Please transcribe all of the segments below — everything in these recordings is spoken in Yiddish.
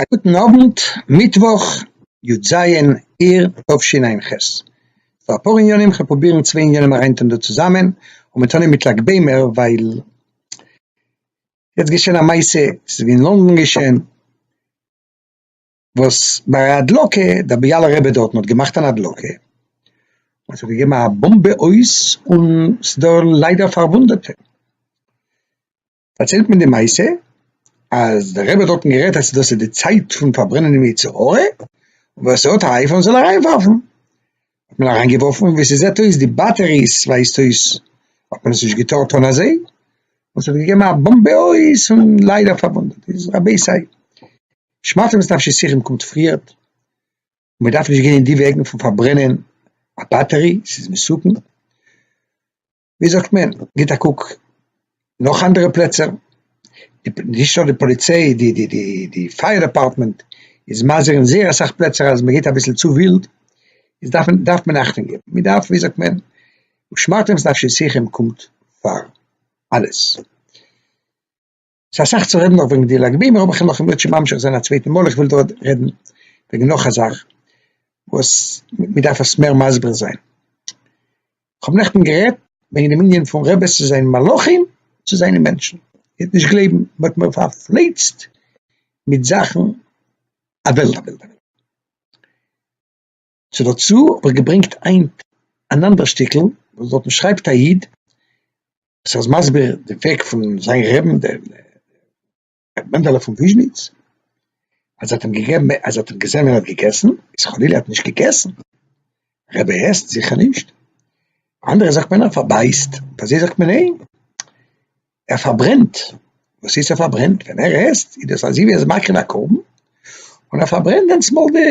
א גוטן אוונט, מיטוואך י ז אייר תשע ח, ס'דא אפאר עניינים, כ'וועל פרובירן צוויי עניינים אריינטון דא צוזאמען, אנגעטון אים מיט לג בעומר, ווייל יעצט געשען א מעשה, ס'איז ווי אין לאנדאן געשען, וואס ביי א הדלקה, דער ביאלא רבי דארטן האט געמאכט אן הדלקה, און ס'האט געגעבן א באמבע אויס, און ס'דא ליידער פארוואונדעטע. פארציילט מען די מעשה אז דער רבי האט דארטן גערעדט אז דאס איז די צייט פון פארברענען דעם יצר הרע, און ווער ס'האט א אייפאון זאל אריינווארפן, האט מען אריינגעווארפן ווי ס'זעט אויס די באטעריס ווייזט אויס האט מען עס נישט געטארט טון אזוי, און ס'האט געגעבן א באמבע אויס און ליידער פארוואונדעט, דאס איז רבי סיי שמאטע וואס נפשי שיחים קומט פריערט, מען דארף נישט גיין אין די וועגן פון פארברענען א באטערי, ס'איז מסוכן. ווי זאגט מען, גיט א קוק נאך אנדערע פלעצער, נישט נאר די פאליציי, די די די די פייער דעפארטמענט איז מזהיר אין זייער אסאך פלעצער אז מען גייט אביסל צו ווילד, איז דארף מען דארף מען אכטונג געבן, מען דארף ווי זאגט מען, ושמרתם את נפשותיכם קומט פאר אלעס. ס'איז אסאך צו רעדן נאך וועגן די לג בעומר אבער כ'וועל לכם אויב שוין ממשיך זיין א צווייטע מאל, כ'וויל דא רעדן וועגן נאך א זאך וואס מ'דארף עס מער מסביר זיין. כ'האב נעכטן גערעדט וועגן דעם ענין פון רעבעס צו זיין מלאכים צו זיינע מענטשן, איר וועט נישט גלייבן, מ'האט מיר פארפלייצט מיט זאכן א וועלט א וועלט א וועלט. צו דערצו האב איך געברענגט היינט אן אנדער שטיקל וואס דארטן שרייבט א איד וואס ער איז מסביר די וועג פון זיין רעבן דער ר' מענדעלע פון וויזשניץ אז ער האט אים געגעבן אז ער האט אים געזען ווען ער האט געגעסן איז חלילה ער האט נישט געגעסן רבי ער עסט זיכער נישט אנדערע זאגט מען ער פארבייסט ביי זיי זאגט מען ניין ער פארברענט, וואס הייסט ער פארברענט? ווען ער עסט איז דאס אזווי ער איז מקריב א קרבן, און ער פארברענט דענסמאל די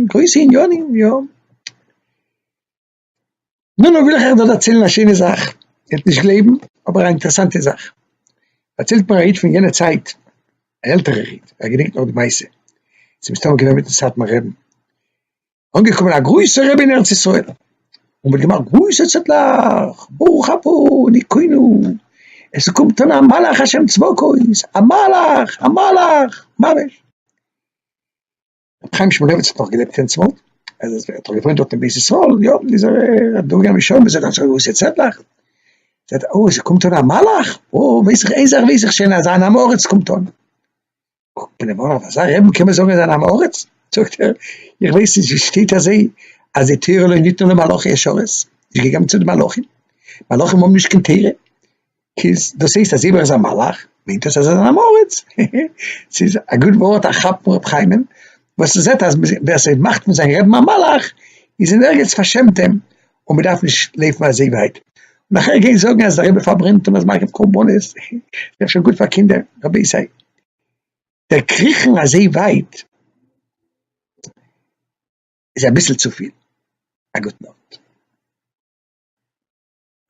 גרויסע עניינים, יא. נו נו וויל איך אייך דא דערציילן א שיינע זאך, איר וועט נישט גלייבן, אבער א אינטערעסאנטע זאך, דערציילט מיר א איד פון יענע צייט, א עלטערער איד, ער געדענקט נאך די מעשה, ס'מסתמא געווען מיטן סאטמאר רב, אנגעקומען א גרויסער רבי אין ארץ ישראל, און מען האט געמאכט גרויסע צעטלעך, ברוך אתה דיקינו, עס איז קומט אן א מלאך השם צבקות, א מלאך, א מלאך, ממש. רבי חיים שמולביץ האט נאך געלעבט אין צפת, ער האט דאך געוואוינט דארט אין בית ישראל, יא, איז ער אדורכגעגאנגען מיט שוימעס, זעט אזא גרויסע צעטלעך, זעט ער, אוי, עס איז קומט אן א מלאך, אוי, ווייס איך, איין זאך ווייס איך שוין, אז אן עם הארץ קומט אן. קוקט מיר דער באן אויף אזא רעבן קען מען זאגן אז ער איז אן עם הארץ? זאגט ער איך ווייס נישט ווי שטייט אזוי אז די תורה לא ניתנה למלאכי השרת, נישט געגעבן צו די מלאכים, מלאכים האבן נישט קיין תורה, כז, דאס הייסט אז איבער איז א מלאך מיינט דאס אז ער איז אן עם הארץ? הי הי, ס'איז א גוט ווארט א כאפ פון ר' חיים'ן וואס ער זעט אז ווער ס'מאכט פון זיין רעבן א מלאך איז אין ערגעץ פארשעמט אים, און מען דארף נישט לויפן אזוי ווייט און נאכער גיין זאגן אז דער רבי פארברענט און מ'איז מקריב קרבנות, ס'דאך שוין גוט פאר קינדער, רבותי, דער קריכן אזוי ווייט איז אביסל צופיל, א גוט נאכט.